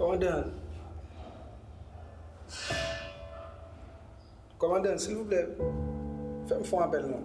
Komandan Komandan silvouplè fè m fon apèl non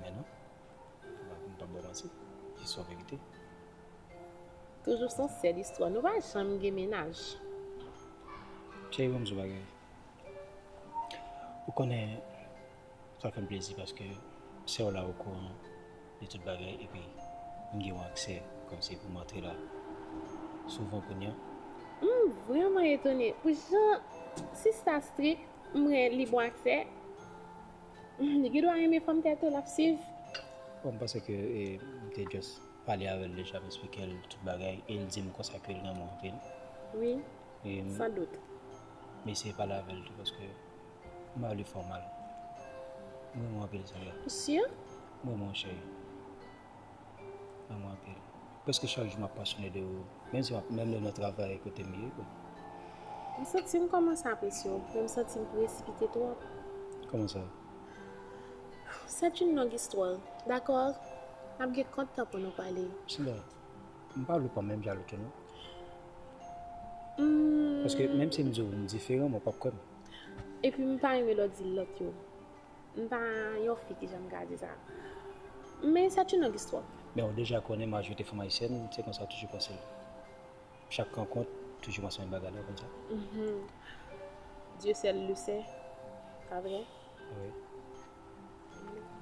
Men non, ou pa konn pap bò manti, li sou verite. Toujou son sèl istwa, nou pa janm gen mennaj. Cheri banm sou bagay, ou konnen sa fèm plezi paske sèw la okouran de tout bagay epi m gen yon aksè kòmsi poum antre la souvan kounya. M vrèman etone pou jan sista strik, m wè li bon aksè. Li gen dwa renmen fanm tèt ou lap swiv. Bon m panse ke m te just pale avèl deja m esplikel tout bagay el dim konsa kel renmen w anpil. Wi san dout. M eseye pale avèl tou paske m pa vle fè w mal. M renmen w anpil Sandra. Ou sur? M renmen w cheri. Nan mwen anpil. Preske chak jou m ap pasyone de ou. Menm si m ap menm lè nan travay kote m ye. M santi m kòmanse apresye w, men m santi m presipite twòp. Kòman sa? Sèt youn long istwa. Dakò? N ap gen kont tan pou nou pale. Sila, m pa vle w pa menm jalou tou non. Paske menm si m di w m diferan, men w p ap kwè m. Epi m pa renmen lè w di lòt yo. M pa yon fi ki janm ka di sa. Men sa t yon long istwa. Men ou deja konnen majorite fanm ayisyèn se konsa yo toujou panse. Chak rankont toujou panse menm bagay la, ou konn sa? Dieu seul le sait, pa vre? Wi.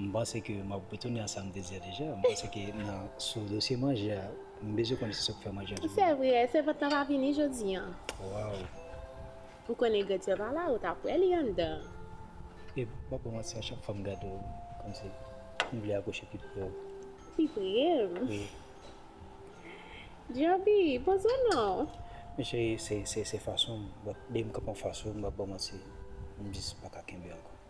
M panse ke m ap retounen a sa m te di a deja. M panse ke nan sou dosye manje a, m bezwen konnen si se ou ki fè manje a toujou. Se vre, sèvant lan pa vini jodi an. Waww. Ou konn egretyè pa la ou tap wè li anndan. E mpa pran manti a chak fwa m gade w kòmsi m vle apwoche pi pre w. Pi pre m? Wi. Djaby, poze w non. Men cheri se fason m, but depi m kanpe anfas ou m pap ba w manti m jis paka kenbe ankò.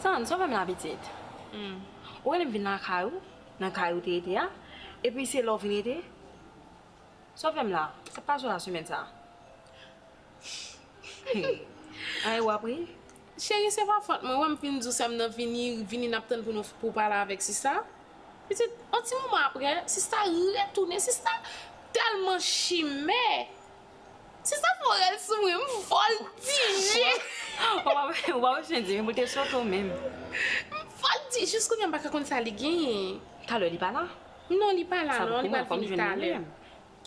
San, sove m la pitit. Ou rele m vin lakay ou, nan kay ou te rete a, epi se la ou vin rete? Sove m la, sa k pase w la semèn sa a? Ay wap ri. Cheri se pa fòt mwen wèm fin diw sèm nan vini vini nap tann pou nou pou pale avèk sista pitit on ti moman aprè sista retounen sista tèlman chimè sista fè yon rèl sou mwen m vòltije ou pa wè chen di pou l te sòt ou menm m vòlti jis kounye m paka konn sa li genyen talè li pa la non li pa la non li pral vini talè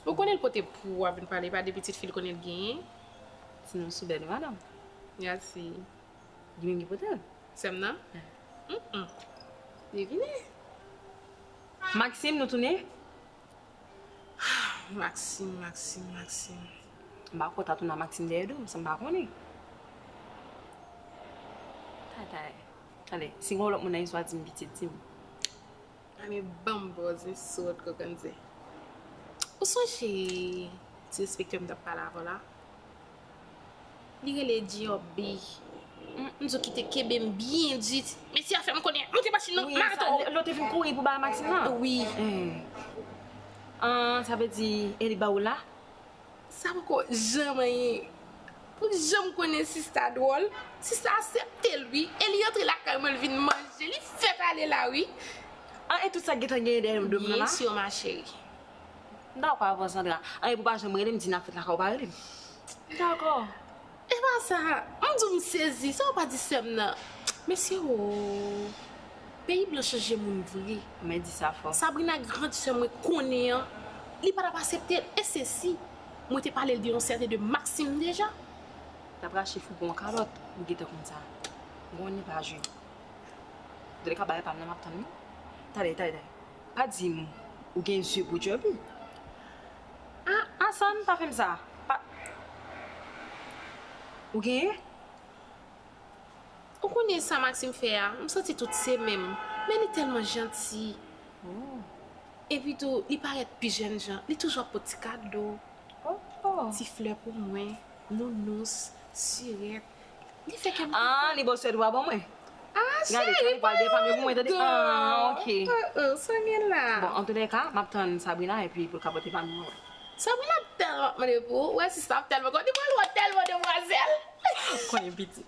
Ou konnen l pote pou wap vin pale pa de pitit fi l konnen l genyen. Ti moun sou bèt madanm. Gad si Ginen ki pote l. Sèm nan? Humm. Li vini. Maxime nou tounen? Hum Maxime Maxime Maxime. M pa kontan tou nan Maxime dèyè do m san m pa konnen. Taytay. Tande si gon lòt moun nan istwa di m pitit di m. Anne banm bòzè sòt kokonze. Ou sonje ti enspektè m tap pale avèw la? Li rele Djobby. M di w kite kenbe m byen di. Mesye a fè m konnen. Monte machin nan, m arete w. Lè w te vin kouri pou bay machin nan? Wi. An, sa vle di e li ba ou la? Sa poko janman ye Pou l janm konnen sista dwòl Sista asepte l wi E li antre lakay mwen l vin manje Li fèt ale la wi An e tout sa k gentan genyen dèyè m dwe pran la Byen sur ma chérie M dakò avè w Sandra An e pou w pa janm rele m di n ap fèt lakay w pa rele m M dakò Epa sa m di w m sezi sa w pa di sèm nan mesye ooh peyi blan chanje moun vre mwen di sa fò Sabrina grand sè mwen konnen an li pa tap asepte l e se si mwen te pale l de yon sèten de Maxime deja l ap rache fouge yon kalòt ou gentan konn sa bon li pa jwe an tou le ka bagay pa m nan m ap tann li tande tande pa di m ou gen zye pou djòl wi. Humm Asan pa fem sa pa Ou genyen? Ou konnen sa Maxime fè a m santi tout se menm men li tèlman janti Ohh Epi tou li parèt pi jèn jan li toujou ap pot ti kado Ohh Ti flè pou mwen Nounous Sirèt Li fè kèm kontan. An, li bo sèt vwa ban mwen. An, cheri, pa ri dan. An, ok. San gen la. Bon, an tou lè ka, map tann Sabrina epi pou l ka pote pami mwen. Sabrina ap tèlman mande pou ou. Ou wè sista ap tèlman kontan. Li pral wè w tèlman demwazèl. Konyen piti.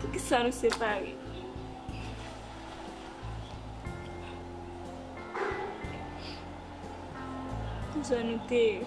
Poukisa nou separe? Kijan nou te ye?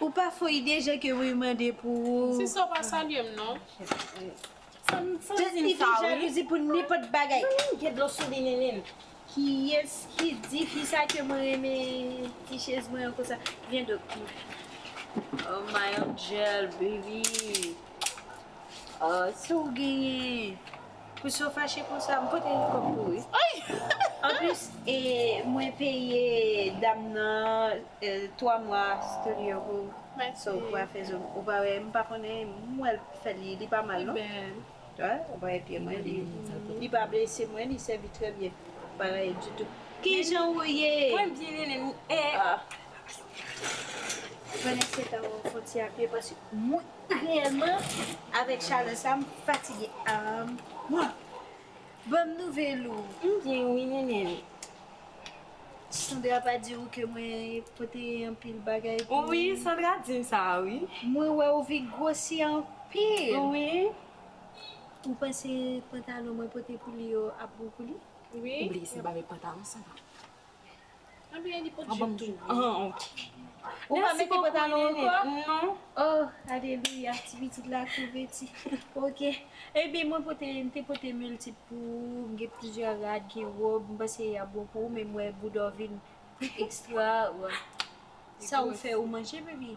Ou pa fo ide jan ke Ruy mande pou ou. Ti sa w pa salye m non. Sa m santi m sa wi. Li gen jalouzi pou nenpòt bagay. Nini m gen dlo sou li Nini. Kiyes ki di fi sa ke mwen renmen ti chez mwen an konsa. Vyen do m fi. Oh my angel baby. Oh si w genyen. Pouki w fache konsa m pote yon kòb pou ou wi anplis e mwen peye dam nan 3 mwa studio pou ou so ou pa fè zo ou pa wè m pa konnen m wè l fè li li pa mal non ou pa wè pye mwen li pa blese mwen li sèvi trè byen ou pa rayi ditou kijan ou ye mwen byen nenèm e ou konnen se ta wè w fon ti apye paske mwen. Reyèlman avèk chalè sa m fatige aahmm mwah banm nouvèl ou. M byen wi nene m. Sandra pa di ou ke mwen pote anpil bagay pou ou. Wi Sandra dim sa wi. Mwen wè ou vin gwosi anpil. Wi. Ou panse pantalon mwen pote pou li yo ap bon pou li? Wi. Ou bliye se m pa met pantalon Sandra. Anbyen li pot jup tou vre. Ou pa mete pantalon ankò? Non. Oh alelouya ti pitit la konveti. Ok. Ebyen mwen pote m te pote multip pou ou, m gen plizyè rad, gen robe, m panse yap bon pou ou men m wè boudaw vin extra. Sa ou fè ou manje baby?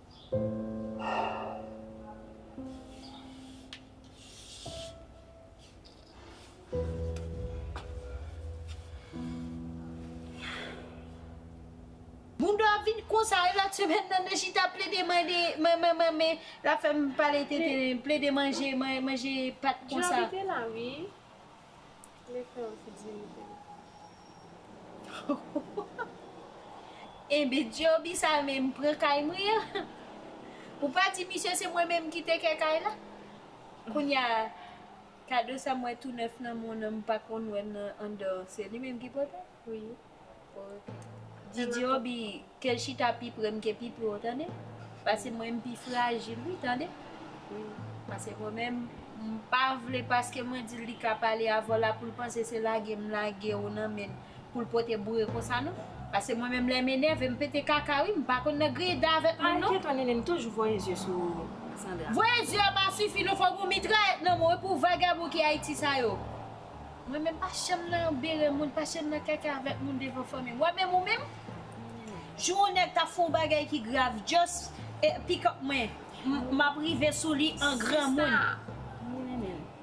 Bouda ap vin konsa e lòt semèn nan nan chita ap plede mande mwen mwen mwen mwen lap fèm pale tenten plede manje manje pat konsa. Djòl li te la wi. Li fè w figi ri tou. Enben Djoby sa menm pran kay mwen an. Ou pa di misye se mwen menm ki te kè kay la. Kounya kado sa m wè tou nèf nan moun an m pa konn wè l nan anndan an se li menm ki pote l. Wi ok. Didyo bi kel chita pi prem ke pi pre w tande pase mwen m pi frajil wi tande wi pase mwen menm m pa vle paske mwen dil li ka pale avèw la poul panse se lage m lage w nan menl poul pote boure konsa non pase mwen menm lè m enève m pete kaka wi m pa konn nan griye dan avèk moun non. Anketwa nenel m toujou voye zye sou Sandra. Voye zye an pa sifi non fok ou mitrayèt nan men w wi pou vagabon ki ayiti sa yo. Mwen menm pa janm nan yon bere moun, pa janm nan kaka avèk moun devan fanmi. Wè menm ou menm? Jou yon nèg ta fè yon bagay ki grav just e pick up mwen, map rive sou li an granmoun.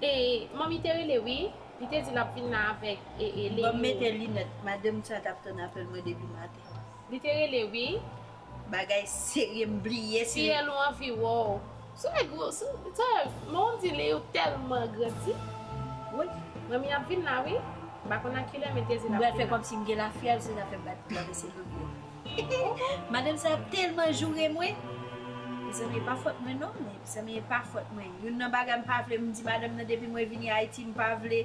E manmi te rele wi, li te di lap vin la avèk e e Léo. Banm mete linèt, madanm sa tap tann apèl mwen depi maten. Li te rele wi. Bagay serye m bliye si. Fiyèl ou anvi wou. Sou nèg ou sou tèl men ou di li ou tèlman grandi wi. Manmi ap vin la wi. M pa konn a kilè men Dezi la. M pral fè kòmsi m gen lafyèl se zafè m bat pye a men se loulou an. Madanm sa ap tèlman joure mwen. Mezanmi e pa fòt mwen non. Mezanmi e pa fòt mwen. Youn nan bagay m pa vle m di madanm nan depi mwen vini Ayiti m pa vle.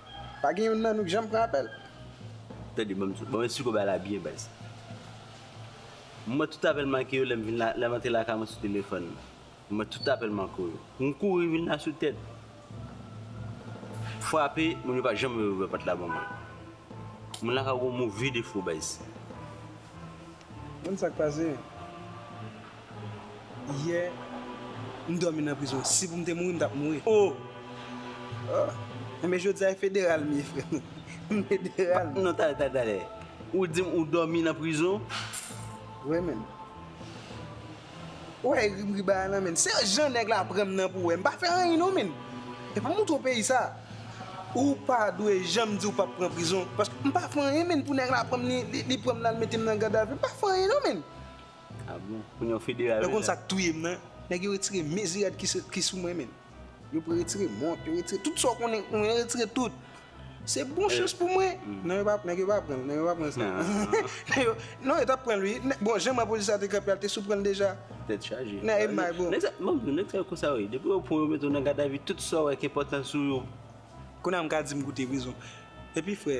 Pa gen youn nan nou k janm pran apèl. Tande banm tout, banm esplike w bagay la byen baz. M wè tout apèl manke yo lè m vin la, lè m antre lakay mwen sou telefòn m. M wè tout apèl manke yo. M kouri vin la sou tèt. Frape, moun yo pa janm leve ouvè pòt la ban mwen. Moun lakay ou gen yon move defo baz. Banm sa k pase. Yè m dòmi nan prizon. Si pou m te mouri m tap mouri. Oh Enben jodi a e federal m ye frè m. M federal. Non tale tale tale. Ou di m ou dòmi nan prizon. Wè menm. Ou wè e ri bagay lan menm. Se jan nèg la pran m nan pou wè. M pa fè anyen non menm. E pou m montre w peyi sa. Ou pa dwe janm di ou pap pran prizon. Paske m pa fè anyen menm pou nèg la pran m li pran m la l mete m nan gadavi. M pa fè anyen non menm. Ah bon kounye w federal deja. Mwen konn sak touye m nan. Nèg yo retire mezirad ki sou mwen menn. Yo pre retire mont, yo retire tout sa w konnen sou mwen, yo retire tout. Se bon chans pou mwen. Non yo pa, nèg yo pa pran, nèg yo pa pran sa. Nèg yo, non yo tap pran l wi. Bon jan man polis la te kanpe a l te sou pran l deja. Tèt chaje. Nèg yo may bon. Nèg sa, banm di w, nèg sa yo konsa yo ye. Depi yo pran w yo mete w nan gadavi tout sa w wè ki enpòtan sou yo. Kounye a m ka di m goute prizon. Epi frè,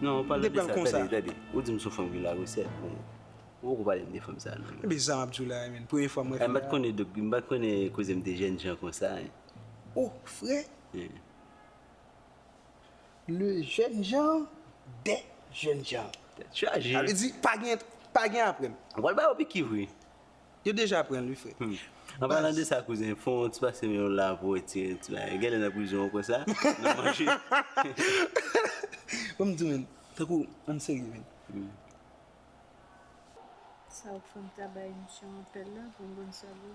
Non ou pale de sa tande tande ou dim sou fanm ki la resèt men ou poko palem de fanm sa non. Mwen bezan wap diw la menn premye fwa mwen wè fanm sa. Mpat konnen dok mpat konnen kozem te jèn jan konsa hein. Oh fre le jèn jan de jèn jan. Tèt chaje. Sa vle di pa gen pa gen aprèm. Ou pral ba yo pikiv wi. Yo deja pranl wi frè. Humm. An palan de sa kouzen, fon yon ti pase men yo la pou retire yon ti bagay. Genlè nan prizon ou kwè sa? Nan manje. Banm diw menn, tankou ann serye menn. Sa ou k fèm ta bay misye yon apèl la pou m konn sa l ye.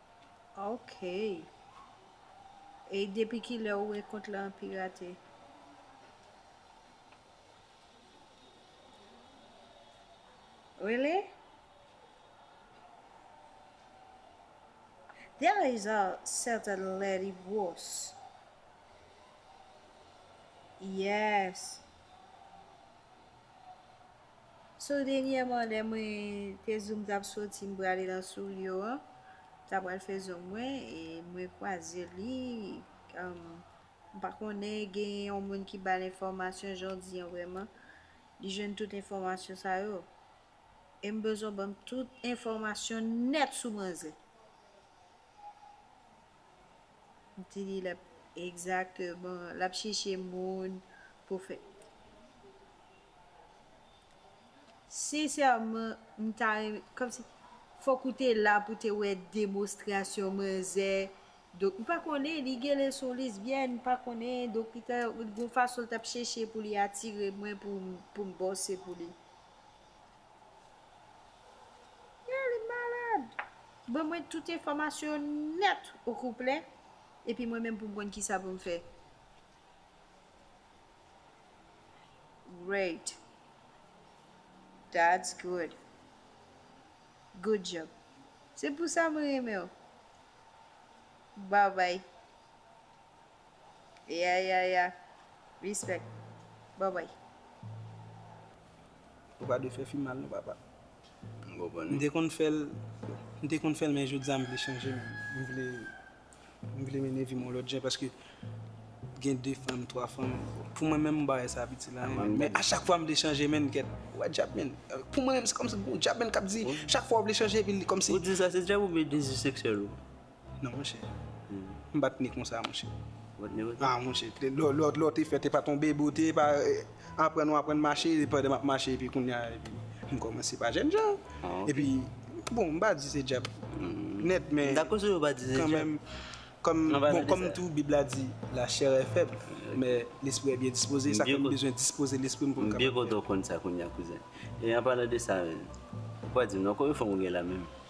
Ok Ey depi kilè ou wè kont lan pirate. Really? There is a certain lady gros Yes So denyèman lè mwen te zoom tap soti m prale nan Souliyo an ta pral fè zoom mwen e mwen kwaze li m pa konnen gen yon moun ki bal enfòmasyon jan w di an vrèman li jwenn tout enfòmasyon sa yo e m bezwen w banm tout enfòmasyon nèt sou manzè m di li lap egzakteman lap chèche moun pou fè. Sincèrement m ta renmen kòmsi fòk ou te la pou te wè demonstration manzè Doc m pa konnen li genlè son lesbienne m pa konnen Doc li ta gon fason l tap chèche pou li atire mwen pou m bòse pou li Yeah li malad Ban mwen tout enfòmasyon nèt ou kouplè epi mwen menm pou m konn kisa pou m fè. Great That's good Good job Se pou sa mwen renmen w Bye bye Yeah yeah yeah Respect Bye bye Ou pa dwe fè fi mal non papa. M te konn fèl, m te konn fèl men jodia m vle chanje m vle. M vle mennen vi m yon lòt jan paske gen 2 fanm, 3 fanm. Pou mwen menm m pa wè sa ap itil anyen menn. Men a chak fwa m vle chanje menn kèt, ou wè djab menn. Pou mwen menm se kòmsi gon djab menn k ap di chak fwa ou vle chanje epi li kòmsi. Ou di sa se djab oubyen dezi seksyèl ou? Non monchè. M pa t ne konsa monchè. Ou pa t ne konsa? Ah monchè, lè w te fèt e pa t yon bebe ou te e pa. Aprann ou aprann mache e pandan map mache epi kounya epi m kòmanse pa jèn jan epi bon m pa di se djab nèt men kanmenm kòm bon kòm tou bib la di la chè è fèb men lespri è byen dispoze sa fè m bezwen dispoze lespri m pou m kapab fè. M byen kontan w konn sa kounya kouzen e an palan de sa ou pa di m non konbyen fanm ou gen la menm?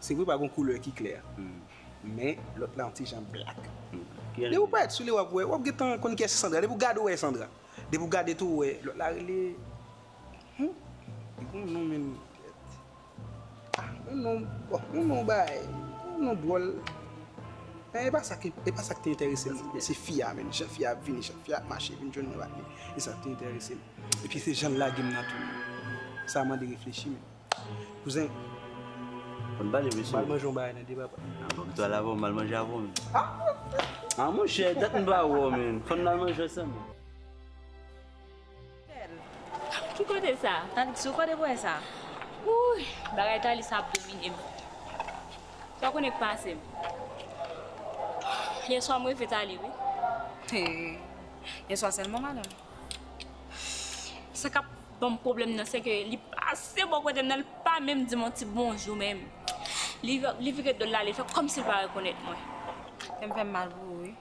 Se vre pa gon koulè ki klè. Men lòt la yon ti jan black. Depi w parèt sou li wap wè, wap gentan konn kiyès ki Sandra. Depi w gade w wè e Sandra. Depi w gade tou w wè lòt la rele Humm li gon non menm kèt. Ah yon non bon yon non bagay yon non dwòl. Men e pa sa ki e pa sa ki te enterese m. Se fi a menm. Jan fi a ap vini, jan fi a ap mache vin jwenn mwen pa vini. Se sa ki te enterese m. Epi se jan l lage m nan tou. Sa mande reflechi menm. Kouzen, mal manje yon bagay nan de papa. An fòk to al avon, mal manje avon men. An mon chè, dat m pa wè w men, fòn nan al manje ansanm men. Bèl. Ki kote sa? Tann sou kote pou wè sa. Wouyy, bagay Thalie sa ap domine m. Sa w konnen k pase m? Yè swa m reve Thalie wi. Hee, yè swa sèlman madanm? Sa k ap. Bon pwoblèm nan se ke li pase bò kote m nan, li pa menm di m yon ti bonjou menm. Li vire do l ale, li fè kòmsi li pa rekonèt mwen. Kè m fè m mal pou ou wi.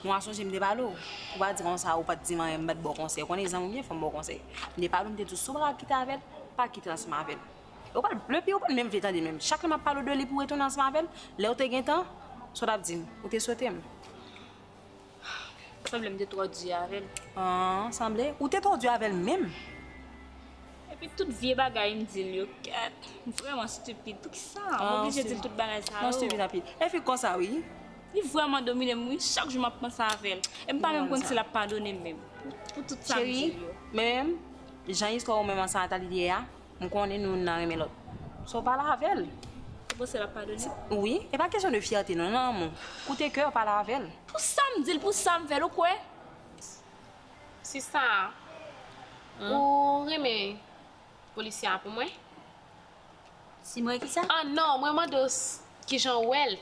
Mwen sonje m te pale w, ou pa di m konsa, ou pa t di m anyen, m pa t ba w konsèy. Ou konnen zanmi w byen fò m ba w konsèy. M te pale w, m te di w si w pa ka kite avè l, pa kite ansanm avè l. E w pa t vle, epi ou pa t menm vle tande menm. Chak lè m ap pale w de li pou w retounen ansanm avè l, lè ou te gen tan, sa w t ap di m? Ou te sote m. Sanble m te twò di avè l. An, sanble ou te twò di avè l menm. Epi tout vye bagay m di l yo, kèt, m vrèman stipid. Poukisa m oblije di l tout bagay sa yo? An, stipid anpil. E fi konsa wi. Li vrèman domine m wi, chak jou m ap panse avè l. E m pa menm konn si l ap padone m menm, pou tout sa m di l yo. Cheri, men, jan istwa ou menm ak Santa li ye a, M konnen nou youn nan renmen lòt. Sa w pale avè l. Ou panse l ap padone w? Wi. E pa kesyon de fyète non, nan lanmou. Koute kè w pale avè l. Pou sa m di l, pou sa m fè l, ou kwè? Sista, ou renmen polisye a pou mwen? Si mwen ki sa? An non, mwen mande w ki jan w wè l.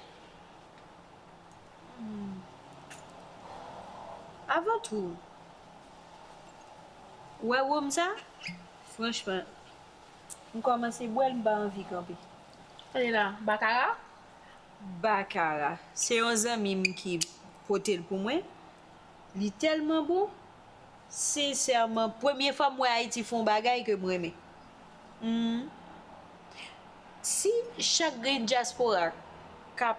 Avan tou, ou wè wonm sa? Franchman m kòmanse bwèl m pa anvi kanpe. Tande la, Bakara? Bakara. Se yon zanmi m ki pote l pou mwen. Li tèlman bon. Sensèman, premye fwa m wè Ayiti fè yon bagay ke m renmen. Hum. Si chak grenn dyaspora ka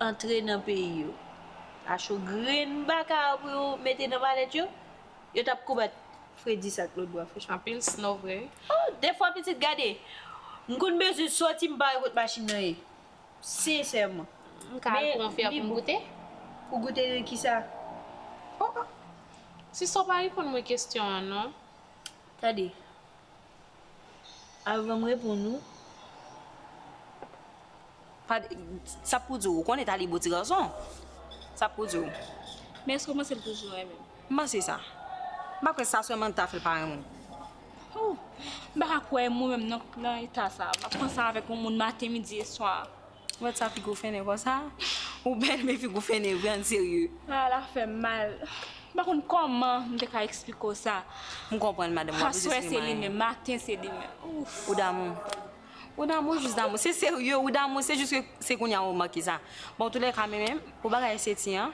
antre nan peyi yo, acho grenn Bakara pou yo mete nan malèt yo, Yo tap konbat fredis ak lot bwa franchman. Anpil snow vre wi. Oh defwa pitit gade m konn bezwen soti m pa wè kot machin nan ye sensèman. M ka al pran yon fè a pou m goute? Pou goute nan kisa? Oh oh. Sista w pa reponn mwen kesyon an non. Tande. Avan m reponn ou. Sa pou di w, ou konnen Talibo ti gason? Sa pou di w. Men èske w panse l toujou renmen m? M panse sa. M pa kwè sa sèlman ta fè l pa renmen w. Ou! M pa ka kwè mwen menm nan eta sa a. M ap panse avèk yon moun maten, midi e swa. Ou wè sa figo fennen konsa. Ou bèl men figou fennen vre an serye. Ah la fèm mal. M pa konn kòman m te ka eksplike w sa. M konprann madanm wap jis renmen. Aswè se li menm, maten se li menm. Ouff. Ou damou. Ou damou ou jis damou. Se serye ou damou se jis ke se kounya ou remake sa. Bon antoulèka men men pou bagay Seti an.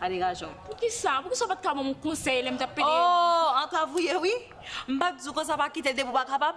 A degaje w. Poukisa? Poukisa w pat ka ban m yon konsèy lè m tap pede yo? Oo, antrav ou ye wi. M pat di w konsa pa kite l depi w pa kapab.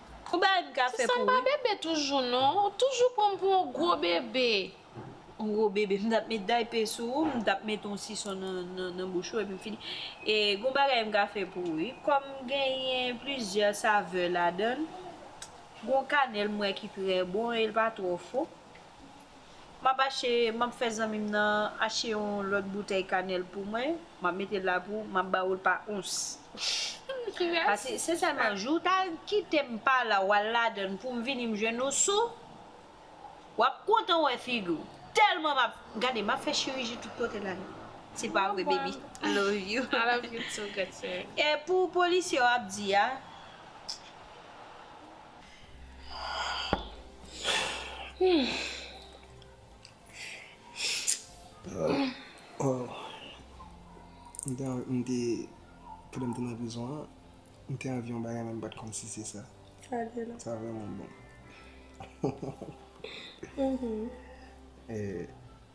Ou bay m kafe pou ou wi. Susan m pa bebe toujou non. Ou toujou pran m pou yon gwo bebe. Yon gwo bebe. M t ap met daype sou ou, m t ap met yon sison nan bouch ou epi m fini. E gon bagay m ka fè pou ou wi. Kòm genyen plizyè savè ladan l, gon kanèl m wè ki trè bon e l pa twò fo. Map ache map fè zanmim nan ache yon lòt boutèy kanèl pou mwen map metel la pou map ba oul pa ons pase se sèlman jou w ta kitem pa la wal ladann poum vini m jwenn ou sou wap kontan wè figi w tèlman map gade map fè chiriji tout kote la dann se pa vre baby I love you I love you too good sir e pou polisye w ap di a. Mwen te, pandan mwen te nan prizon an, mwen te anvi yon bagay men mwen pa t konn si se sa. Sa vle la. Sa vreman bon.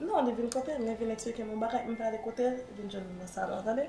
Non li vin kote m li vin eksplike m yon bagay m prale kote l li vin jwenn m nan salon an tande.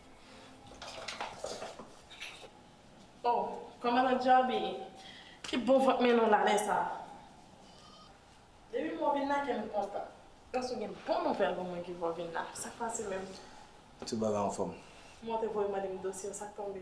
Oh kòman nan djaby ki bon vant melon lale sa. Depi mwen vin la kèm kontan. Paske gen bon nouvèl pou mwen ki vò vin la. Sak pase menm? Tout bagay anfòm. Monte voye mande m dosye w sak tonbe?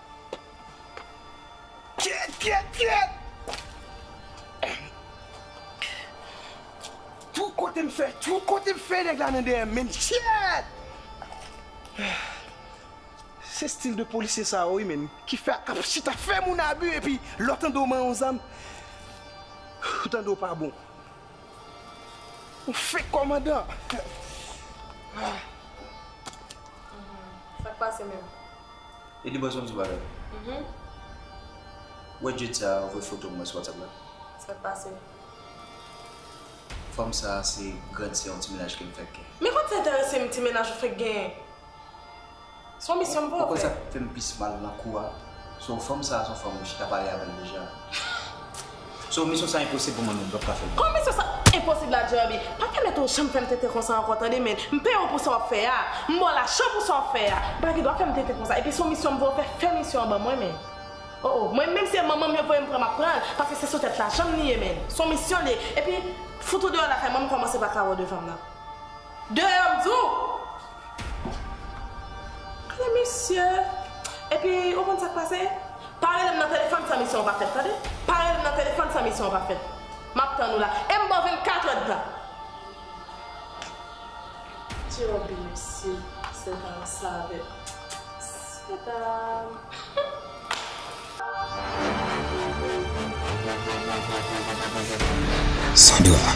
Kyèt kyèt kyèt! Twou kote m fè, twou kote m fè nèg la nan dèyè m menm kyèt! Se stil de polisye sa yo wi menm ki fè ap chita fè moun abi epi lè w tande w man yon zam ou tande w pa bon. Yon fake kòmandan! Sak pase menm? E li bezwen m di w yon bagay? Uhmm. Wè djed sa a voye foto mwen sou whatsapp la. Sa k pase? Fanm sa a se grand sè yon ti mennaj ke m fèk gen. Men kòman sa enterese m ti mennaj ou fèk genyen? Se yon misyon m pou w fè. Ou konn sa k fè m plis mal nan kou a? Se yon fanm sa a se yon fanm ou chita pale avè l deja. So misyon sa enposib pou mwen menm pap ka fèl non. Kòm misyon sa enposib la Jerby pa pèmèt ou janm fèm tenten konsa ankò tande men m peye w pou sa wap fè a m baw lajan pou sa wap fè a ou pa gen dwa fèm tenten konsa epi son misyon m vle w fè fè misyon an ban mwen men oh oh mwen menm se manman m yo voye m pran map pran l paske se sou tèt lajan m li ye men son misyon l ye epi fout ou deyò lakay mwen m kòmanse pa ka wè w devan m nan deyò m di w. Ala mesye! Epi ou konn sa k pase? Pa rele m nan telefòn san misyon an pa fèt tande! Pa rele m nan telefòn san misyon an pa fèt! M ap tann ou la e m ba w vennkatrèdtan! Djòbe mesye! Sè ta an save! Sè ta an! Sandra!